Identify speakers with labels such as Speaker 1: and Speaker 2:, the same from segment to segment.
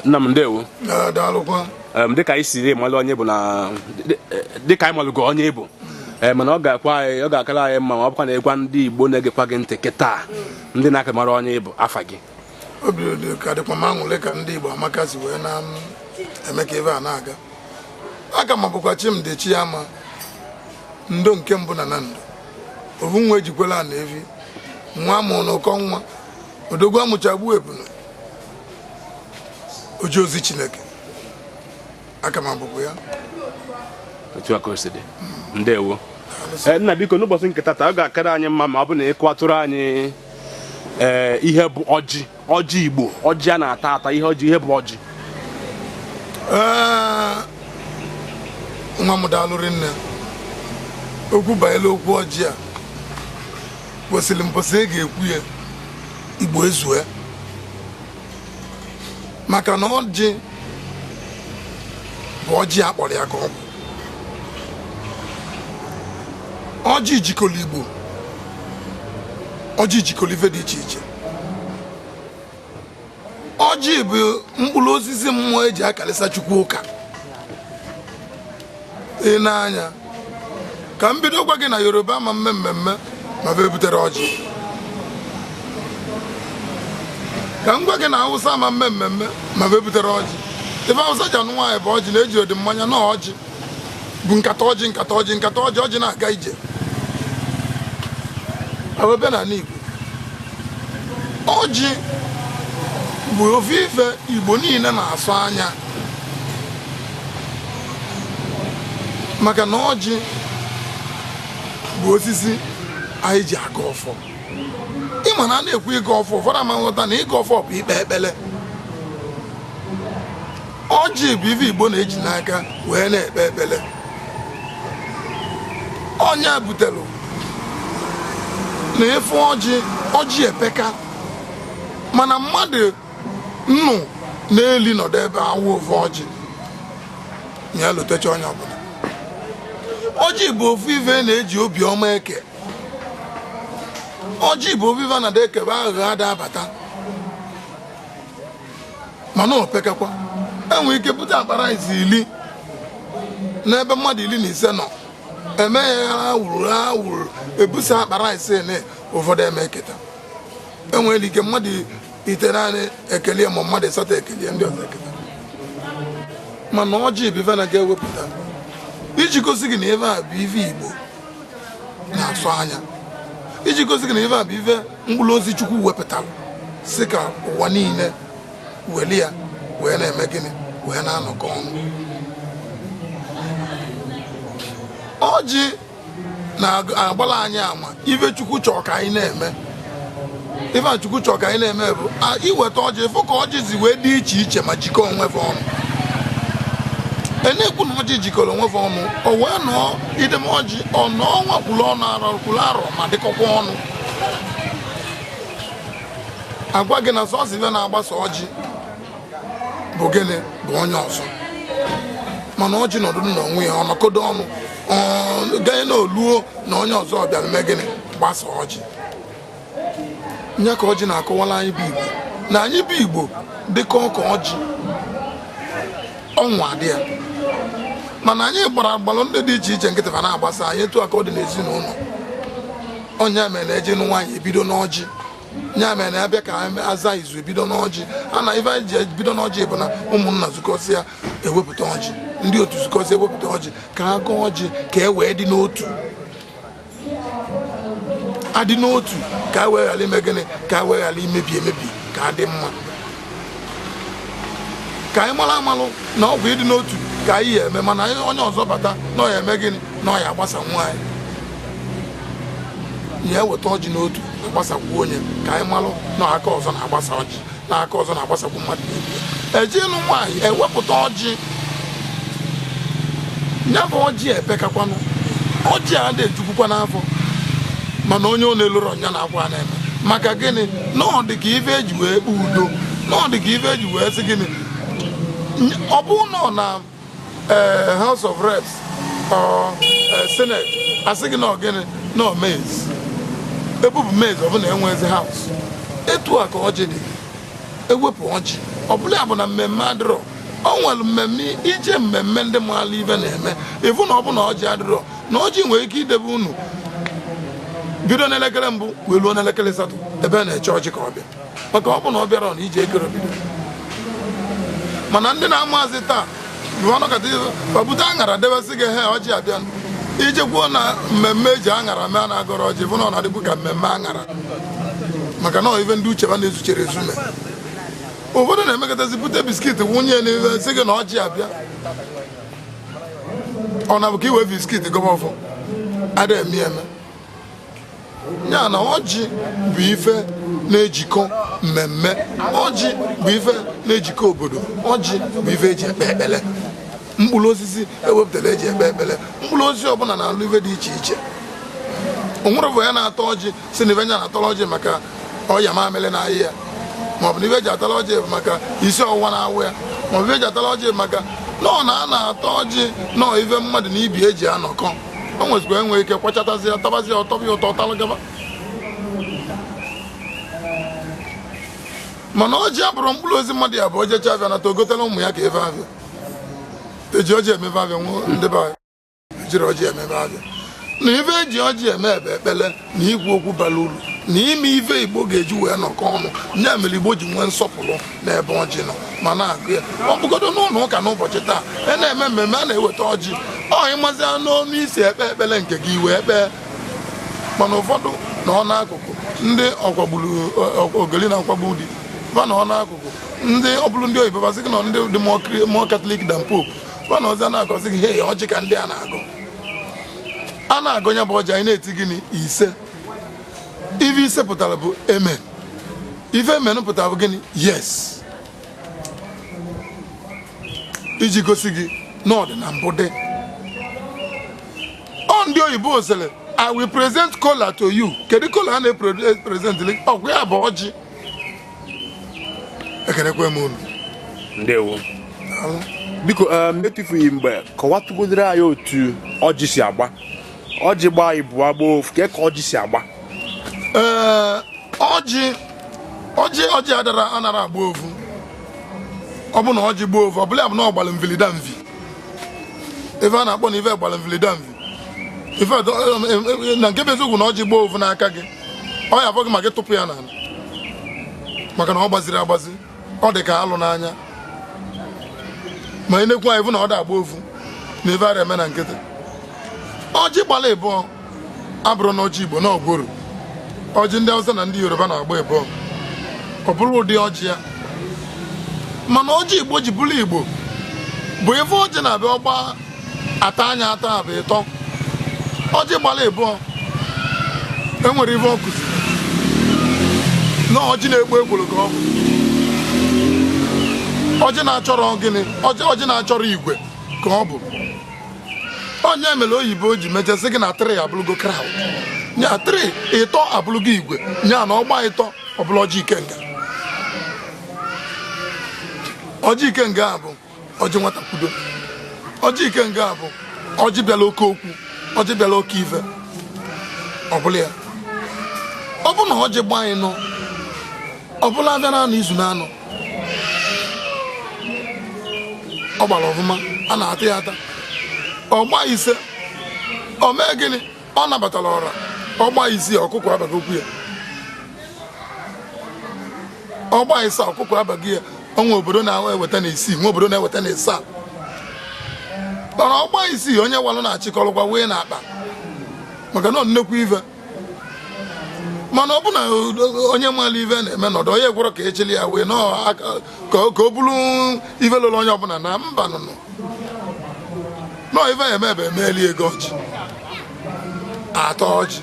Speaker 1: nna m ndewo
Speaker 2: daalụkwa dịka
Speaker 1: anyị siri malụ onye ị bụ na dịka anyị malụgo onye ị bụ ee mana ọ ga-akwa anyị ọ ga-akara anyị mma ma ọ bụkwa na ị gwa ndị Igbo na-egekwa gị ntị kịta ndị na-aka amarọ onye ị bụ afa gị obi
Speaker 2: dị ka dịkwa m aṅụlị ka ndị Igbo amaka si wee na-eme ka ebe a na-aga aka m abụkwa Chimdi Chiama ndo nke mbụ na Nando ovu nwa ejikwela na evi nwa mụrụ n'ụkọ nwa odogwu amụcha gbue ebunu oje ozi chineke aka m abụkwa
Speaker 1: ya otu aka o si dị ndewo Eh, nna biko n'ụbọchị nke tata ọ ga-akara anyị mma ma ọ bụ na ị kọwatụrụ anyị ee ihe bụ ọjị ọjị igbo ọjị a na-ata ata ihe ọjị ihe bụ ọjị
Speaker 2: Ee, nwa m daalụ rinne okwu banyere okwu ọjị a kwesịrị mbọsị e ga-ekwu ya igbo ezue maka na ọjị bụ ọjị a kpọrọ ya ka ọ bụ ọjị jikọrọ igbo ọjị jikọrọ ife dị iche iche ọjị bụ mkpụrụ osisi mmụọ eji akalịsa chukwu ụka ị na-anya ka m bido gwa gị na yoruba ama mme mmemme ma bụ ebutere ọjị ka m gwa gị na awụsa ama mme mmemme ma bụ ebutere ọjị ife awụsa ji anụ nwaanyị bụ ọjị na ejirọdị mmanya na ọjị bụ nkata ọjị nkata ọjị nkata ọjị ọjị na-aga ije awebe na ala Igbo ọjị bụ ofu ife Igbo niile na-asọ anya maka na ọjị bụ osisi anyị ji agọ ọfọ ị ma na a na-ekwu ịgọ ọfọ ụfọdụ ama nghọta na ịgọ ọfọ bụ ikpe ekpere ọjị bụ ife igbo na-eji n'aka wee na-ekpe ekpere ọ nya butere na ị fụ ọjị ọjị epeka mana mmadụ nnụ na ili nọdụ ebe a wa ofu ọjị ya lutecha onye ọbụla ọjị bụ ofu ife na-eji obiọma eke ọjị bụ ofu ife na-ada ekebe aghụghọ ada abata mana ọ pekakwa enwere ike bute akpa rice iri n'ebe mmadụ iri na ise nọ eme ya wuruwuru ebusa akpa rice na ụfọdụ ama eketa enwere ike mmadụ itenaanị ekelie ma mmadụ ịsatọ ekelie ndị ọzọ eketa mana ọjị bụ ife na a ga-ewepụta iji gosi gị na ife a bụ ife igbo na-asọ anya iji gosi gị na ife a bụ ife mkpụrụ osisi chukwu wepụtara sị ka ụwa niile weli ya wee na-eme gịnị wee na-anọkọ ọnụ ọjị na-agbala anyị ama ife chukwu chọrọ ka anyị na-eme ife a chukwu chọrọ ka anyị na-eme bụ iweta ọjị ịfụ ka ọjị si wee dị iche iche ma jikọọ onwe fa ọnụ na-ekwu na ọjị jikọrọ onwe fa ọnụ o wee nọọ idebe ọjị ọ nọọ ọnwa kwuru ọnwa arọ kwuru arọ ma dịkọkwa ọnụ agwa gị na sọsọ ife na-agbasa ọjị bụ gịnị bụ onye ọzọ mana ọjị nọdụ na onwe ya ọ nọkodo ọnụ ganye na o luo na onye ọzọ bịara mee gịnị gbasa ọjị nya ka ọjị na-akọwala anyị bụ igbo na anyị bụ igbo dịka ọka ọjị ọnwa dị ya mana anyị gbara agbalụ ndị dị iche iche nkịtị fa na-agbasa anyị etu a ka ọ dị n'ezinụlọ ọ nya mere na eje ịnụ nwaanyị ebido n'ọjị ya mere na abịa ka aza izu ebido n'ọjị a na ife anyị ji ebido n'ọjị bụ na ụmụnna zukọsịa ewepụta ọjị ndị otu zukọsịa ewepụta ọjị ka a gọọ ọjị ka e wee dị n'otu adị n'otu ka e wee ghara ime gịnị ka e wee ghara imebi emebi ka adị mma ka anyị mara amalụ na ọ bụ ịdị n'otu ka anyị ya eme mana onye ọzọ bata na ọ ya eme gịnị na ọ ya agbasa nwa anyị ya eweta ọjị n'otu agbasakwu onye ka anyị malụ na aka ọzọ na-agbasa ọjị na aka ọzọ na-agbasakwu mmadụ eje ịnụ nwaanyị ewepụta ọjị ya bụ ọjị epekakwanụ ọjị adị ejukwukwa n'afọ mana onye ọ na-elurọ ọ nya na-akwa na-eme maka gịnị na ọ dị ka ife eji wee kpee udo na ọ dị ka ife eji wee sị gịnị ọ bụ nọ na eh, House of Reps or eh, Senate asị gị na ọ gịnị na ọ mace ebupụ mace ọ bụ na enwezi house etu a ka ọjị dị ewepụ ọjị ọbụla ya bụ na mmemme adịrọ o nwere mmemme ije mmemme ndị maalụ ife na-eme ịfụ na ọ bụ na ọjị adịrọ na ọjị nwere ike idebe unu bido n'elekere mbụ wee ruo n'elekere asatọ ebe na-eche ọjị ka ọ bịa maka ọ bụ na ọ bịarọ na ije ekerọ ebido mana ndị na-amazi taa bute aṅara debe sị gị he ọjị abịa ijekwuo na mmemme eji aṅara mee na agọrọ ọjị ịfụ na ọ na-adị ka mmemme aṅara maka na ife ndị uche fa na-ezucherọ ezu mee ụfọdụ na-emekatazi bute biskit wụnye n'ife sị gị na ọjị abịa ọ na-abụ ka iwe biskit gọba ọfọ ada eme eme ya na ọjị bụ ife na-ejikọ mmemme ọjị bụ ife na-ejikọ obodo ọjị bụ ife eji ekpe ekpele mkpụrụ osisi ewepụtara eji ekpe ekpele mkpụrụ osisi ọbụla na-alụ ife dị iche iche onwerọ ovu onye na-ata ọjị sị na ife nya na-atara ọjị maka ọya mamịrị na-arịa ya maọbụ na ife eji atara ọjị bụ maka isi ọwụwa na-awa ya maọbụ ife eji atara ọjị maka na ọ na a na-ata ọjị na ọ ife mmadụ na ibe ya ji anọkọ o nwezikwa enwe ike kwachatazi ya tabazi ya ọ tọba ya ụtọ ọtalụ gaba mana ọjị abụrọ mkpụrụ osisi mmadụ ya bụ o jechaa afịa nata ogotela ụmụ ya ka ife afịa eji ọjị eme ife afịa nwụọ ndị be anyị ejirọ ọjị eme ife afịa na ife eji ọjị eme bụ ekpele na ikwu okwu bara uru na ime ife igbo ga-eji wee nọkọ ọnụ ya mere igbo ji nwee nsọpụrụ n'ebe ọjị nọ ma na-agọ ya ọ bụgodo n'ụlọ ụka n'ụbọchị taa a na-eme mmemme a na-eweta ọjị ọ ịmazia n'ọnụ i si ekpe ekpele nke gị wee kpee mana ụfọdụ nọ n'akụkụ ndị ọkwagburu ogeli na nkwagbu di fa nọ n'akụkụ ndị ọ bụrụ ndị oyibo fa sị gị na ndị dị more catholic than pope fa na ọzọ na-agọzi gị he ọjị ka ndị a na-agọ a na-agọ ya bụ ọjị anyị na-eti gịnị ise ife ise pụtara bụ amen ife amen pụtara bụ gịnị yes iji gosi gị na ọ dị na mbụ dị ọ ndị oyibo sịrị i will present kola to you kedu kola a na-epresentịrị ọbịa bụ ọjị ekenekwe m unu
Speaker 1: ndewo biko um, etufughị mgbe kọwatụgodoro anyị otu ọjị si agba ọjị gbaa ịbụa gbaa ofu ka ọjị si agba ee ọjị ọjị ọjị adara anara agba ofu ọ bụ na ọjị gba ofu ọ bụla ya bụ na ọ gbara mvilida mvi ife a na-akpọ na ife gbara mvilidamvi ife na nke bụ eziokwu na ọjị gbaa ovu n'aka gị ọ ya afọ gị ma gị tụpụ ya n'ala maka na ọ gbazirọ agbazi ọ dị ka alụ n'anya ma ị na-ekwu anyị bụ na ọ da agba ovu na ife ara eme na nkịtị ọjị gbara ịbụọ abụrọ na ọjị Igbo na ọ gworo ọjị ndị Hausa na ndị Yoruba na-agba ịbụọ ọ bụrụ ụdị ọjị ya mana ọjị Igbo ji bụrụ Igbo bụ ife ọjị na-abịa ọ gba atọ nya atọ bụ ịtọ ọjị gbara ịbụọ enwere ife ọkụzi na ọjị na-egbu egboro ka ọ bụ ọjị na-achọrọ gịnị ọjị na-achọrọ igwe ka ọ bụ ọ nya mere oyibo ji mecha sị gị na three abụlụgo crowd nya three ịtọ abụlụgo igwe nya na ọ gba ịtọ ọ bụlụ ọjị ikenga ọjị ikenga a bụ ọjị nwata kwudo ọjị ikenga a bụ ọjị bịala oke okwu ọjị bịala oke ife ọbụla ya ọ bụ na ọjị gba ịnọ ọ bụlụ afịa na anọ izu na anọ ọ gbara ọfụma a na-ata ya ata ọ gba ise ọ mee gịnị ọ nabatara ọra ọ gba isii ọkụkọ abago okwu ya ọ gba ise ọkụkọ abago ya o nwe obodo na-eweta na isii nwe obodo na-eweta na isaa mana ọ gba isii onye walụ na-achịkọrọkwa wee na akpa maka na ọ nnekwu ife mana ọ bụ na onye malụ ive na-eme nọdụ onye gwọrọ ka ejili ya wee ka ọ bụrụ ive lụrụ onye ọbụla na mba nụnụ nọ ive eme ebe emeeli agọ ọjị ata ọjị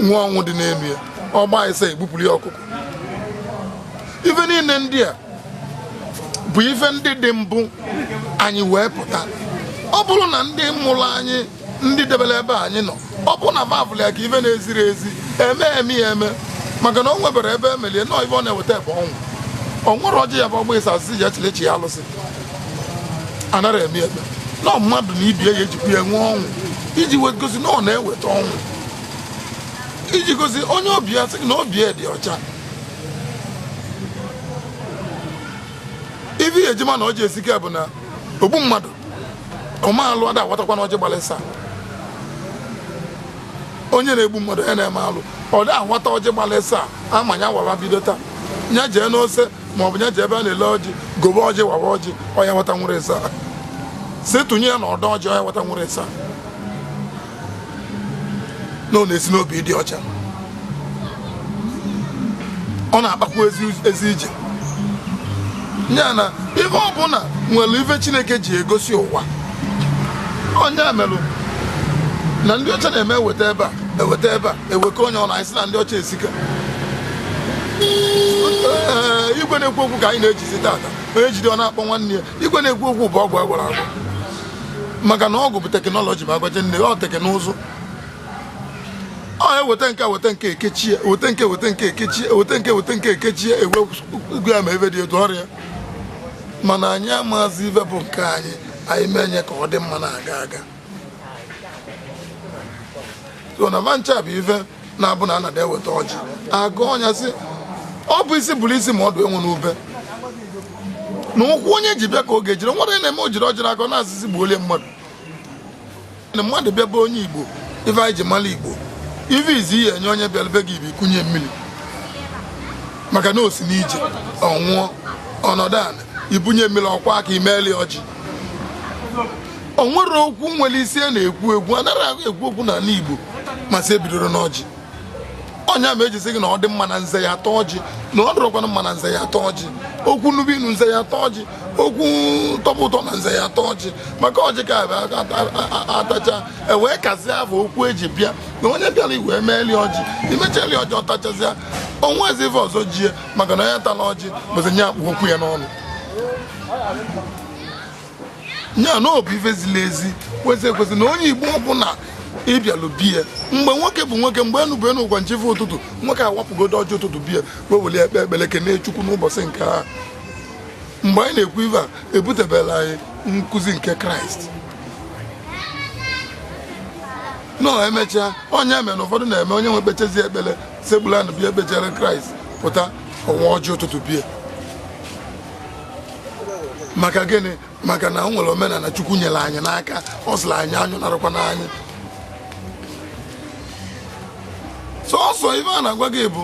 Speaker 1: nwee ọṅụ dị n'ime ya ọ gba ise egbupụrụ ya ọkụkọ ife niile ndị a bụ ife ndị dị mbụ anyị wee pụta ọ bụrụ na ndị mụrụ anyị ndị debere ebe anyị nọ ọ bụrụ na va avụlụ ya ka ife na-eziri ezi eme eme ya eme maka na o nweberọ ebe emeli ya nọọ ife ọ na-eweta ebe ọnwụ o nwerọ ọjị ya bụ ọ gba isaa asịsị ji echilechi ya alụsị anarọ eme eme na mmadụ na ibe ya ejikwa ya nwee ọṅụ iji wee gosi na ọ na-eweta ọṅụ iji gosi onye ọbịa sị na obi ya dị ọcha
Speaker 2: ife ihe e ji ama na ọjị esika bụ na ogbu mmadụ ome alụ ada awatakwa na ọjị gbalụ isaa onye na-egbu mmadụ ya na-eme alụ ọ da awata ọjị gbalụ isaa ama nya wawa bido taa nya jee n'ose ma ọ bụ nya jee ebe a na-ele ọjị gobe ọjị wawa ọjị ọ ya-awata nwere isaa si tụnye ya na ọdọ ọjị ọ ya-awata nwere isaa na ọ na-esi n'obi dị ọcha ọ na-akpakwu ezi ije ya na ihe ọbụla nwere ife chineke ji egosi ụwa ọ nya merụ na ndị ọcha na-eme eweta ebe a eweta ebe a eweka onye ọ na-asị na ndị ọcha esika igwe na-ekwu okwu ka anyị na-ejizi tata onye jide ọ na-akpọ nwanne ya igwe na-ekwu okwu bụ ọgwụ agwọrọ agwọ maka na ọgwụ bụ technology ma agbaje nne ọ teknụzụ ọ eweta nke weta nke ekechie weta nke weta nke ekechie weta nke weta nke ekechie ewe ugwu ya ma ive dị etu ọrịa mana anyị amazi ive bụ nke anyị anyị mee nye ka ọ dị mma na-aga aga so na vancha bụ ive na-abụ na anada eweta ọjị agọọ onye sị ọ bụ isi bụrụ isi ma ọdụ enwe n'ube na ụkwụ onye ji bịa ka ọ ga-ejiri were na-eme o jiri ọjịrị akọ na-asị sị gbuo lie mmadụ na mmadụ bịa be onye igbo ife anyị ji mara igbo ife izi ị ya-enye onye bịara be gị bụ ikunye mmiri maka na o si n'ije ọ ṅụọ ọ nọdụ ala i bunye mmiri ọ kwọọ aka i meeli ọjị o nwere okwu nwere isi a na-ekwu ekwu anaghị ekwu okwu n'ala Igbo ma sị ebidoro n'ọjị ọ nya me e ji si gị na ọ dị mma na nze ya-ata ọjị na ọ dịrọkwana mma na nze ya-ata ọjị okwu nube inu nze ya-ata ọjị okwu tọba ụtọ na nze ya-ata ọjị maka ọjị ka a tacha e wee kazie afọ okwu eji bịa na onye bịara i wee meeli ọjị i mechali ọjị ọ tachazịa o nwezi ife ọzọ jie maka na onye tala ọjị bụzi onye a kpụ okwu ya n'ọnụ ya na ọ bụ ife ziri ezi kwesị ekwesị na onye igbo ọbụna ị bịalụ be ya mgbe nwoke bụ nwoke mgbe enu bụ enu ụgwa na chi efo ụtụtụ nwoke awapụgodo ọjị ụtụtụ be ya wee were ya kpee ekpere kene chukwu n'ụbọchị nke a mgbe anyị na-ekwu ife a ebutebela anyị nkụzi nke kraịst nọ emechaa onye eme na ụfọdụ na-eme onye wee kpechazi ekpere Sekpulu ana bịa kpechere Kraịst pụta ọ waa ọjị ụtụtụ be ya maka gịnị maka na o nwere omenala Chukwu nyere anyị n'aka ọ sịrị anyị anyụ narakwa n'anyị sọsọ ife a na-agwa gị bụ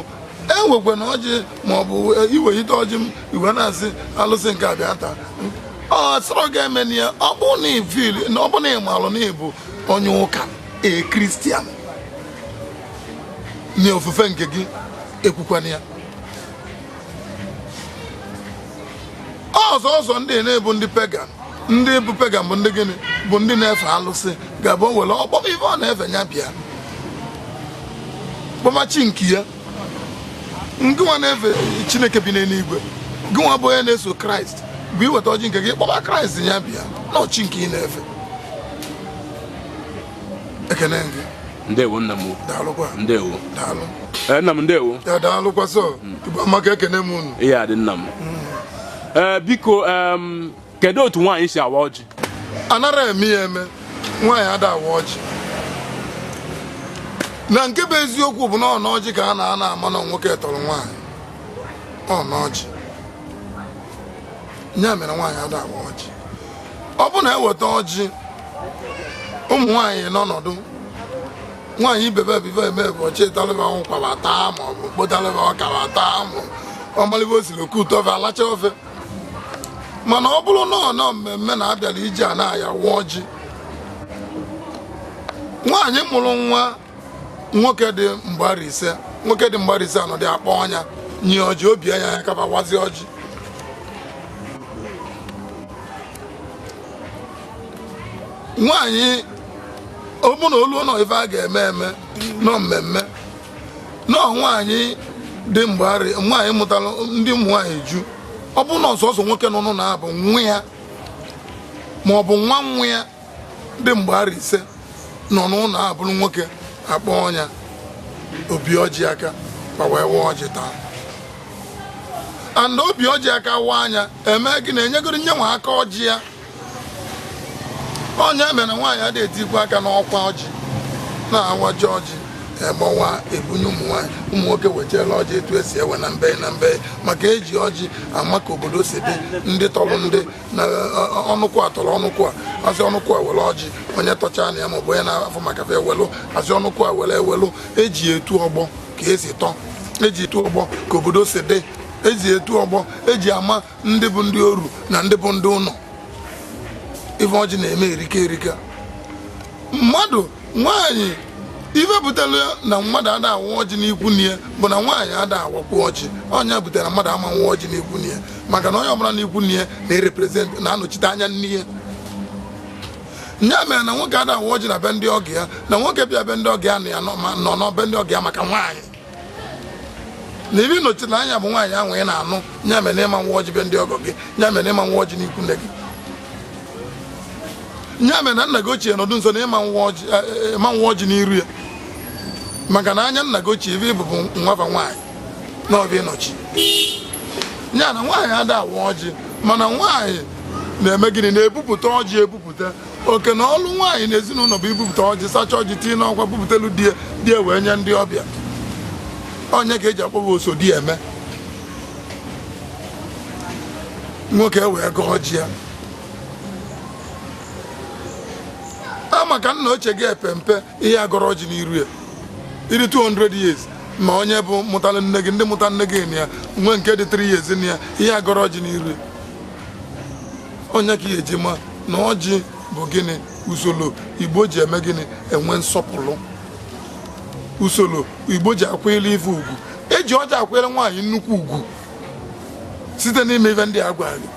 Speaker 2: ewekwana ọjị maọbụ e, i welite ọjị i wee na-asị alụsị nke a bịa taa ọ sọrọ gị emena ya ọ bụ na ị feel na ọ bụ na ị malụ na ị bụ onye ụka a Christian na ofufe nke gị ekwukwana ya ọzọ ọzọ ndị na-abụ ndị pagan ndị bụ pagan bụ ndị gịnị bụ ndị na-efe alụsị ga-abụ e were ọ kpọma ife ọ na-efe ya bịa kpọma chi nke ya ngịnwa na-efe chineke bi n'eluigwe gịnwa bụ onye na-eso kraịst bụ i weta ọjị nke gị kpọba kraịst ya bịa na ọ chi nke ị na-efe ekene gị ndewo nna
Speaker 1: m daalụkwa
Speaker 2: ndewo
Speaker 1: daalụ
Speaker 2: ee nna m
Speaker 1: ndewo ya daalụkwa
Speaker 2: sọ tupu amaka ekene m unu ihe adị nna m
Speaker 1: ee biko em, kedu otu nwaanyị si awa ọjị anarọ eme
Speaker 2: ya eme nwaanyị ada awa ọjị na nke bụ eziokwu bụ na ọ n'ọjị ka a na-anọ ama na nwoke tọrọ nwaanyị ọ n'ọjị ya mere nwaanyị ada awa ọjị ọ bụ na eweta ọjị ụmụ nwaanyị anọdụ nwaanyị ibe be ive eme bụ ọ chịtalị ba ụkwa ba taa ma ọ bụ kpotalị ba ọka ba taa ma ọ malị ba o siri oke ụtọ ofe a lacha ofe mana ọ bụrụ na ọ nọ mmemme na a bịara ije a na a ya-awa ọjị nwaanyị mụrụ nwa nwoke dị mgbe arọ ise nwoke dị mgbe arọ ise anọdụ akpọọ nya nye ọjị o bianye ya aka fa wazie ọjị nwaanyị ọ bụ na olu nọ ife a ga-eme eme nọ mmemme nọ nwaanyị dị mgbari nwaanyị mụtara ndị ụmụ nwaanyị ju ọ bụ na ọ sọsọ nwoke nọ n'ụlọ abụ nwa ya ma ọ bụ nwa nwa ya dị mgbe arọ ise nọ n'ụlọ a bụrụ nwoke akpọọ nya o bie ọjị aka ka e wee waa ọjị taa and o bie ọjị aka waa nya eme gị na enyegoro nye nwa aka ọjị ya ọ nya mere nwaanyị adị etikwu aka n'ọkwa ọjị na awacha ọjị egbawa ebunye ụmụ nwaanyị ụmụ nwoke wechela ọjị etu esi ewe na mbe na mbe maka eji ọjị ama ka obodo si dị ndị tọrọ ndị na ọnụkwụ a tọrọ ọnụkwụ a asị ọnụkwụ a were ọjị onye tọcha na ya maọbụ onye na-afụ maka fa ewelụ asị ọnụkwụ a were ewelụ eji etu ọgbọ ka esi tọ eji etu ọgbọ ka obodo si dị eji etu ọgbọ eji ama ndị bụ ndị oru na ndị bụ ndị ụlọ ife ọjị na-eme erika erika mmadụ nwaanyị ife butere na mmadụ ada awa ọjị n'ikwu nne ya bụ na nwaanyị ada awakwu ọjị ọ nya butere mmadụ ama awa ọjị n'ikwu nne ya maka na onye ọbụla n'ikwu nne ya na-ereprezent na-anọchite anya nne ya nya mere na nwoke ada awa ọjị na be ndị ọgọ ya na nwoke bịa be ndị ọgọ ya na ọ nọ be ndị ọgọ ya maka nwaanyị na ife ị nọchi anya bụ nwaanyị ahụ ị na-anụ nya mere ị ma awa ọjị be ndị ọgọ gị nya mere ị ma awa ọjị n'ikwu nne gị nya mere na nna gị ochie nọdụ nso na ị ma awa ọjị n'iru ya maka na anya nna gị ochie ife ị bụ bụ nwa fa nwaanyị na ọ bụ ya ị nọchi ya na nwaanyị ada awa ọjị mana nwaanyị na-eme gịnị na-ebupụta ọjị ebupụta oke na ọlụ nwaanyị na ezinụlọ bụ ibupụta ọjị sacha ọjị tinye n'ọkwa bupụtelu di ya wee nye ndị ọbịa ọ nya ka eji akpọ fa oso di eme nwoke e wee gọọ ọjị ya a maka nna ochie gị epe mpe ị ya agọrọ ọjị n'iru ya ị dị 200 years ma onye bụ mụtara nne gị ndị mụtara nne gị na ya nwee nke dị 3 years na ya ị ya agọrọ ọjị n'iru ya ọ nya ka ị ya eji ma na ọjị bụ gịnị usoro igbo ji eme gịnị enwe nsọpụrụ usoro igbo ji akwanyere ife ugwu eji ọjị akwanyere nwaanyị nnukwu ugwu site n'ime ife ndị a agwara gị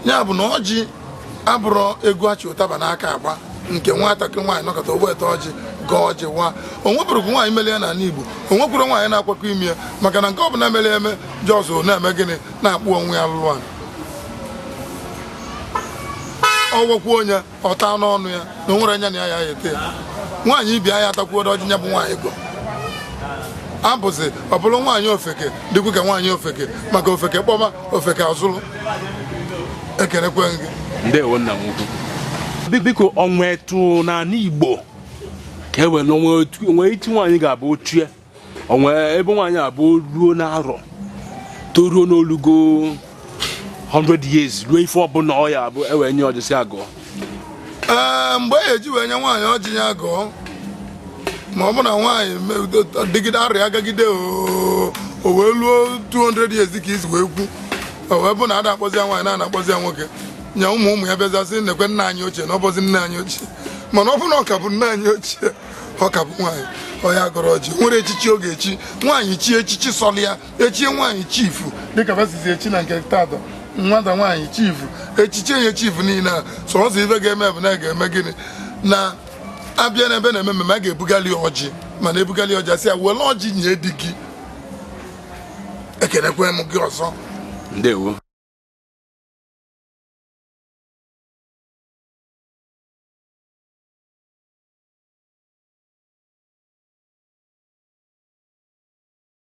Speaker 2: ya bụ na ọjị abụrọ egwu achị ụtaba n'aka agba nke nwatakịrị nwaanyị nọkọta o weta ọjị gọọ ọjị wa o nweburukwu nwaanyị mere ya n'ala Igbo o nwekwuru nwaanyị na-akwakọ ime ya maka na nke ọ bụla mere eme jọzụ na-eme gịnị na-akpọ onwe ya lụlụ ala o nwekwu onye ọta n'ọnụ ya na o nwere anya na ya ya ete ya nwaanyị ibi anya atakwuo ọjị ya bụ nwaanyị ga-abụzi ọ bụrụ nwaanyị ofeke dịkwu ka nwaanyị ofeke maka ofeke kpọba ofeke azụrụ ekelekwe gị ndewo nna m
Speaker 1: ukwu biko o nwe etu n'ala igbo ka e were o nwe etu nwaanyị ga-abụ ochie o nwe ebe nwaanyị abụ ruo n'arọ toruo na o lugo 100 years ruo ife ọbụla ọ ya abụ e wee nye ọjị sị ya gọọ
Speaker 2: ee mgbe e ji wee nye nwaanyị ọjị ya gọọ ma ọ bụ na nwaanyị dịgide arịa agagide o wee luo 200 years ka i si wee kwu o wee bụ na ada akpọzi ya nwaanyị na a na-akpọzi ya nwoke nya ụmụ ụmụ ya bịazie sị nekwe nna anyị ochie na ọ bụzi nne anyị ochie mana ọ bụ na ọ ka bụ nne anyị ochie ọ ka bụ nwaanyị ọ ya gọrọ ọjị o nwere echichi ọ ga-echi nwaanyị chie echichi sọlị ya e chie nwaanyị chifu dịka ba sizi echi na nke taata nwata nwaanyị chifu e chichie ya chifu niile a sọsọ ife ga-eme bụ na a ga-eme gịnị na a bịa n'ebe a na-eme mmemme a ga-ebugali ọjị mana ebugali ọjị a sị ya were ọjị nye di gị ekenekwe m gị ọzọ ndewo